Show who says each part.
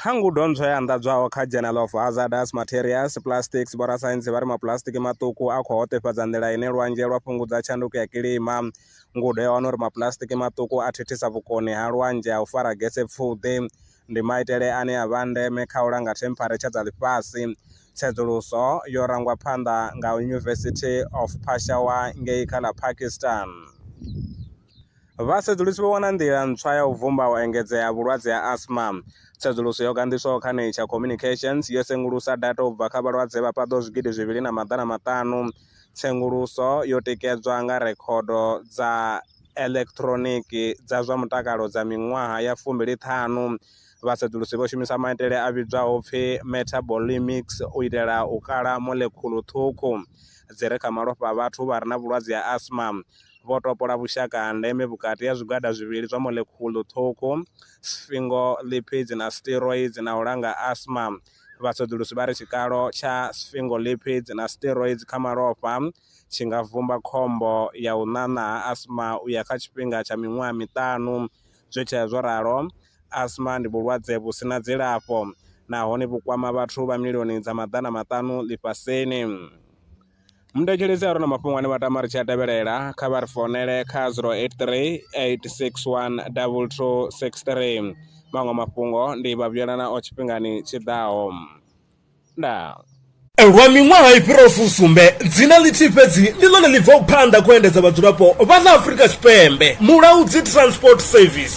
Speaker 1: Kha ngudo ntswa yo anḓadzwaho kha Journal of Hazardous Materials, Plastics, vhorasaintsi vha ri mapuḽasitiki maṱuku a khou hoṱefhadza nḓila ine lwanzhe lwa fhungudza tshanduko ya kilima. Ngudo yo wana uri mapuḽasitiki maṱuku a thithisa vhukoni ha lwanzhe ha u fara gese pfuḓi. Ndi maitele ane a vha a ndeme kha u langa thempharetsha dza ḽifhasi. Tsedzuluso yo rangwa phanḓa nga University of Peshawar ngei kha ḽa Pakistan. Vhasedzulusi vho wana nḓila ntswa ya u vhumba u engedzea ha vhulwadze ha asma. Tsedzuluso yo ganḓiswaho kha Nature Communications yo sengulusa data u bva kha vhalwadze vha paḓaho zwigidi zwivhili na maḓana maṱanu. Tsenguluso yo tikedzwa nga rekhodo dza eḽekhiṱhironiki dza zwa mutakalo dza miṅwaha ya fumbili ṱhanu. Vhasedzulusi vho shumisa maitele a vhidzwaho pfi metabolimics u itela u kala molekhulu ṱhukhu dzi re kha malofha a vhathu vha re na vhulwadze ha asma. vho topola vhushaka ha ndeme vhukati ha zwigwada zwivhili zwa molekhulu ṱhukhu, sphingolipids na steroids, na u langa asma. Vhaṱhoḓulusi vha ri tshikalo tsha sphingolipids na steroids kha malofha tshi nga vhumba khombo ya u ṋaṋa ha asma u ya kha tshifhinga tsha miṅwaha miṱanu. Zwi tshee zwo ralo, asma ndi vhulwadze vhu si na dzilafho nahone vhu kwama vhathu vha milioni dza maḓana maṱanu ḽifhasini. Mu thetshelese a re na mafhungo ane vha tama ri tshi a tevhelela kha vha ri founele kha 083 861 2263. Maṅwe mafhungo ndi vha vhuyela nao tshifhingani tshi ḓaho. Ndaa. Lwa miṅwaha i fhiraho fusumbe, dzina ḽithihi fhedzi ndi ḽone ḽi bvaho phanḓa kha u endedza vhadzulapo vha ḽa Afrika Tshipembe, Mulaudzi Transport Service.